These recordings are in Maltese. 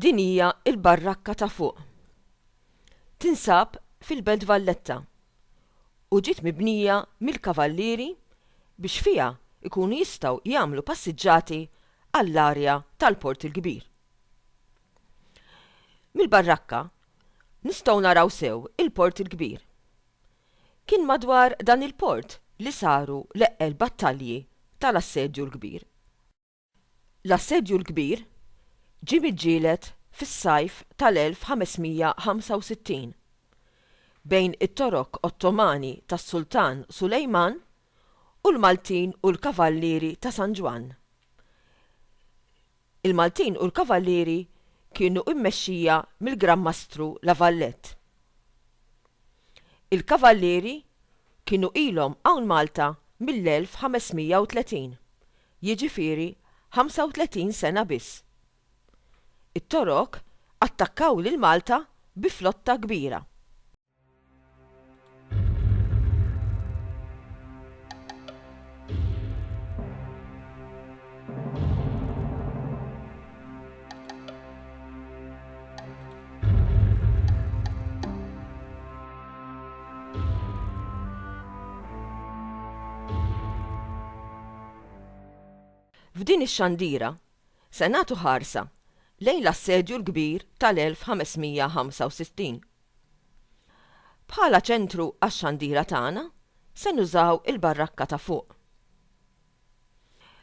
Din hija l-barrakka ta' fuq. Tinsab fil-Belt Valletta u ġiet mibnija mill-Kavallieri biex fiha jkunu jistgħu jagħmlu passiġġati għall-arja tal-Port il-Kbir. Mill-barrakka nistgħu naraw sew il-Port il-Kbir. Kien madwar dan il-port li saru l-eqqel battalji tal-Assedju l-Kbir. L-Assedju l-Kbir ġie miġġieled fis-sajf tal-1565 bejn it-Torok Ottomani tas-Sultan Sulejman u l-Maltin u l-Kavallieri ta' San Ġwann. Il-Maltin u l-Kavallieri kienu mmexxija mill-Gran Mastru La Valette. Il-Kavallieri kienu ilhom hawn Malta mill-1530, jiġifieri 35 sena biss. It-Torok attakkaw lil Malta bi flotta kbira. F'din ix-xandira se nagħtu ħarsa lejn l-Assedju l-Kbir tal-1565. Bħala ċentru għax-xandira tagħna se nużaw il-barrakka ta' fuq.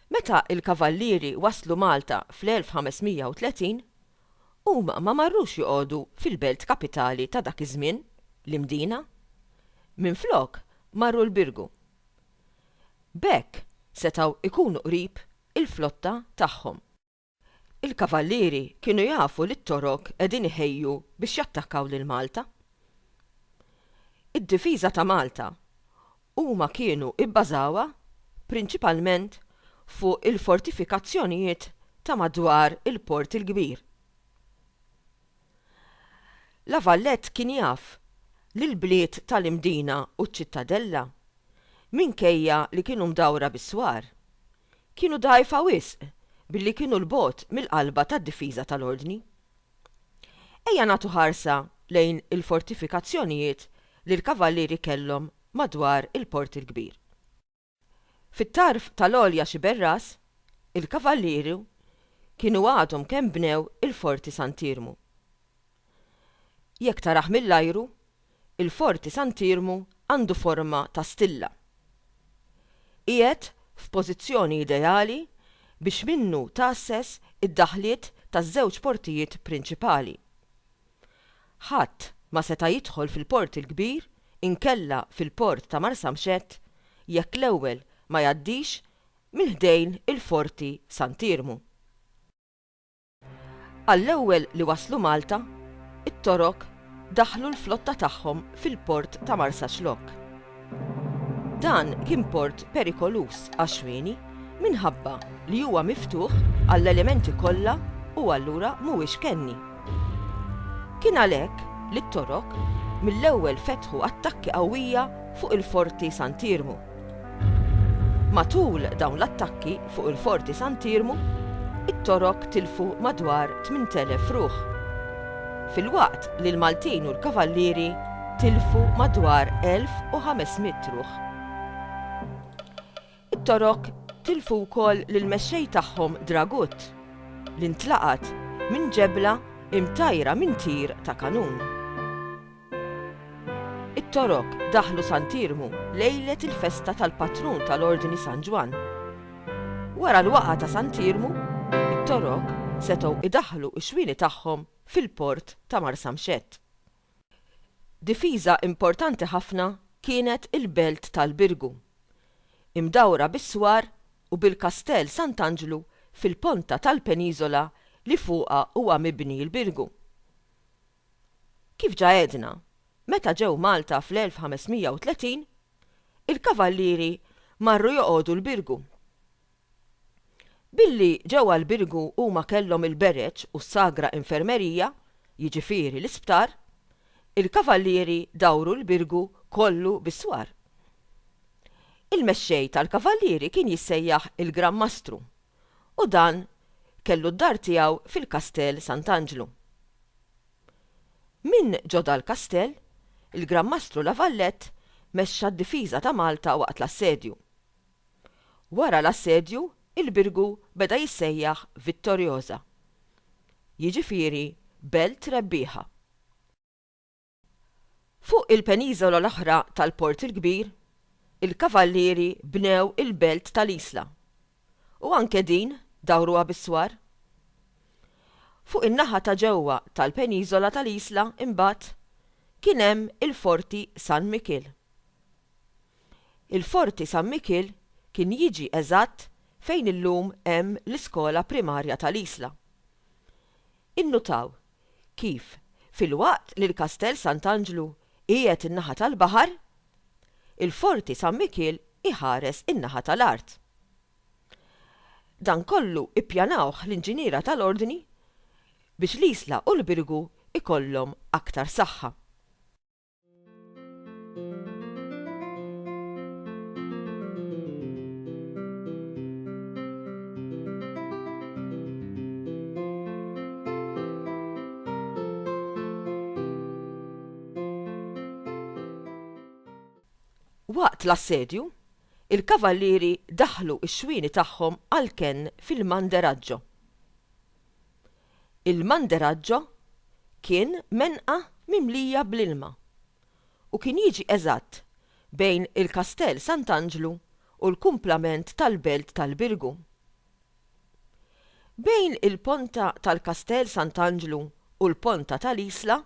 Meta l-Kavallieri waslu Malta fl-1530, huma ma marrux joqogħdu fil-belt kapitali ta' dak iż-żmien, l-Imdina. Minflok, marru l-Birgu. B'hekk, setgħu jkunu qrib il-flotta tagħhom. Il-Kavallieri kienu jafu li t-Torok qegħdin iħejju biex jattakkaw lil Malta. Id-difiża ta' Malta huma kienu ibbażawha prinċipalment fuq il-fortifikazzjonijiet ta' madwar il-Port il-Kbir. La Valette kien jaf li l-bliet tal-Imdina u ċ-Ċittadella, minkejja li kienu mdawra bis-swar, kienu dgħajfa wisq billi kienu 'l bogħod mill-qalba tad-difiża tal-Ordni. Ejja nagħtu ħarsa lejn il-fortifikazzjonijiet li l-Kavallieri kellhom madwar il-Port il-Kbir. Fit-tarf tal-Għolja Xiberras, il-Kavallieri kienu għadhom kemm bnew il-Forti Sant'Iermu. Jekk tarah mill-ajru, il-Forti Sant'Iermu għandu forma ta' stilla. Qiegħed f'pożizzjoni ideali biex minnu tgħasses id-daħliet taż-żewġ portijiet prinċipali. Ħadd ma seta' jidħol fil-Port il-Kbir inkella fil-Port ta' Marsamxett jekk l-ewwel ma jgħaddix minn ħdejn il-Forti Sant'Iermu. Għall-ewwel li waslu Malta, it-Torok daħħlu l-flotta tagħhom fil-port ta' Marsaxlokk. Dan kien port perikoluż għax-xwieni minħabba li huwa miftuħ għall-elementi kollha u allura mhuwiex kenni. Kien għalhekk li t-Torok mill-ewwel fetħu attakki qawwija fuq il-forti Sant'Iermu. Matul dawn l-attakki fuq il-Forti Sant'Iermu, it-Torok tilfu madwar 8,000 ruħ, filwaqt li l-Maltin u l-Kavallieri tilfu madwar 1,500 ruħ. It-Torok tilfu wkoll lill-mexxej tagħhom Dragut, li ntlaqat minn ġebla imtajjra minn tir ta' kanun. It-Torok daħlu Sant'Iermu lejlet il-festa tal-patrun tal-Ordni San Ġwann. Wara l-waqgħa ta' Sant'Iermu, it-Torok setgħu idaħħlu x-xwieni tagħhom fil-port ta' Marsamxett. Difiża importanti ħafna kienet il-belt tal-Birgu, imdawra bis-swar u bil-Kastell Sant'Anġlu fil-ponta tal-peniżola li fuqha huwa mibni l-Birgu. Kif ġa għedna, meta ġew Malta fl-1530, il-Kavallieri marru joqogħdu l-Birgu. Billi ġewwa l-Birgu huma kellhom il-Bereġ u s-Sagra Infermerija, jiġifieri l-isptar, il-Kavallieri dawru l-Birgu kollu bis-swar. Il-mexxej tal-Kavallieri kien jissejjaħ il-Gran Mastru, u dan kellu d-dar tiegħu fil-Kastell Sant'Anġlu. Minn ġo dal-kastell, il-Gran Mastru La Valette mexxa d-difiża ta' Malta waqt l-assedju. Wara l-assedju il-Birgu beda jissejjaħ Vittoriosa, jiġifieri Belt Rebbieħa. Fuq il-peniżola l-oħra tal-Port il-Kbir, il-Kavallieri bnew il-belt ta' l-Isla, u anke din dawruha bis-swar. Fuq in-naħa ta' ġewwa tal-peniżola ta' l-Isla, imbagħad, kien hemm il-Forti San Mikiel. Il-Forti San Mikiel kien jiġi eżatt fejn illum hemm l-iskola primarja ta' l-Isla. Innutaw kif, filwaqt li l-Kastell Sant'Anġlu qiegħed in-naħa tal-baħar, il-Forti San Mikiel iħares in-naħa tal-art. Dan kollu ippjanawh l-inġiniera tal-Ordni biex l-Isla u l-Birgu jkollhom aktar saħħa. Waqt l-assedju, il-Kavallieri daħħlu x-xwieni tagħhom għall-kenn fil-Manderaggio. Il-Manderaggio kien menqa mimlija bl-ilma u kien jiġi eżatt bejn il-Kastell Sant'Anġlu u l-kumplament tal-belt tal-Birgu. Bejn il-ponta tal-Kastell Sant'Anġlu u l-ponta tal-Isla,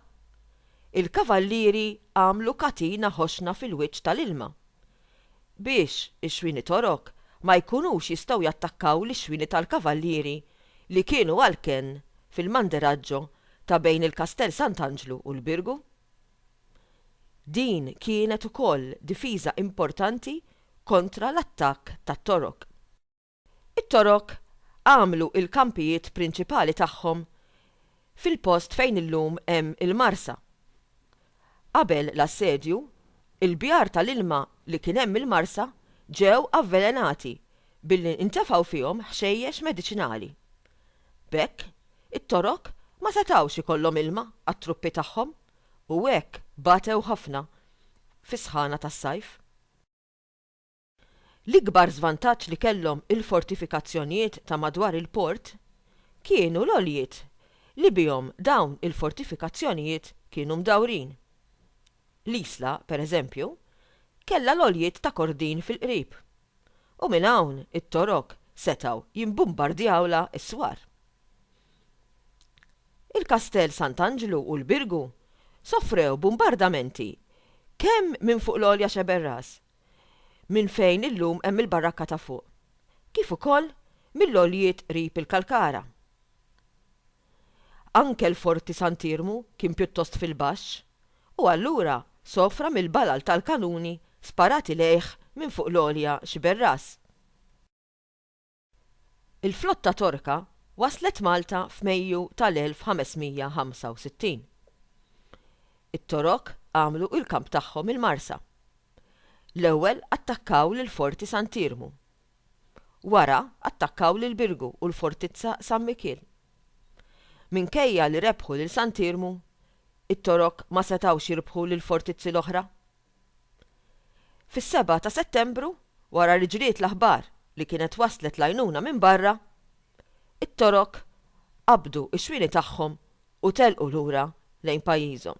il-kavallieri għamlu katina ħoxna fil-wiċċ tal-ilma biex ix-xwieni Torok ma jkunux jistgħu jattakkaw lix-xwieni tal-Kavallieri li kienu għal kenn fil-Manderaġġo ta' bejn il-Kastell Sant'Anġlu u l-Birgu. Din kienet ukoll difiża importanti kontra l-attakk tat-Torok. It-Torok għamlu l-kampijiet prinċipali tagħhom fil-post fejn illum hemm il-Marsa. Qabel l-assedju, il-bjar tal-ilma li kien hemm il-Marsa ġew avvelenati billi ntefgħu fihom ħxejjex mediċinali. B'hekk, it-Torok ma setgħux ikollhom ilma għat-truppi tagħhom u hekk batew ħafna fis-sħana tas-sajf. L-ikbar żvantaġġ li kellhom il-fortifikazzjonijiet ta' madwar il-port kienu l-għoljiet li bihom dawn il-fortifikazzjonijiet kienu mdawrin. L-Isla, per eżempju, kellha l-għoljiet ta' Kordin fil-qrib, u minn hawn it-Torok setgħu jimbumbardjawlha s-swar. Il-Kastell Sant'Anġlu u l-Birgu sofrew bumbardamenti kemm minn fuq l-għolja Xeberras minn fejn illum hemm il-barakka ta' fuq, kif ukoll mill-għoljiet qrib il-Kalkara. Anke l-Forti Sant'Iermu kien pjuttost fil-baxx u allura sofra mill-balal tal-kanuni sparati lejh minn fuq l-għolja Xiberras. Il-flotta Torka waslet Malta f'Mejju tal-1565. It-Torok għamlu il-kamp tagħhom il-Marsa. L-ewwel attakkaw lill-Forti Sant'Iermu. Wara attakkaw lil Birgu u l-Fortizza San Mikiel. Minkejja li rebħu lil Sant'Iermu, it-Torok ma setgħux jirbħu lill-fortizzi l-oħra. Fis-seba' ta' Settembru, wara li ġriet l-aħbar li kienet waslet l-għajnuna minn barra, it-Torok qabdu x-xwieni tagħhom u telqu lura lejn pajjiżhom.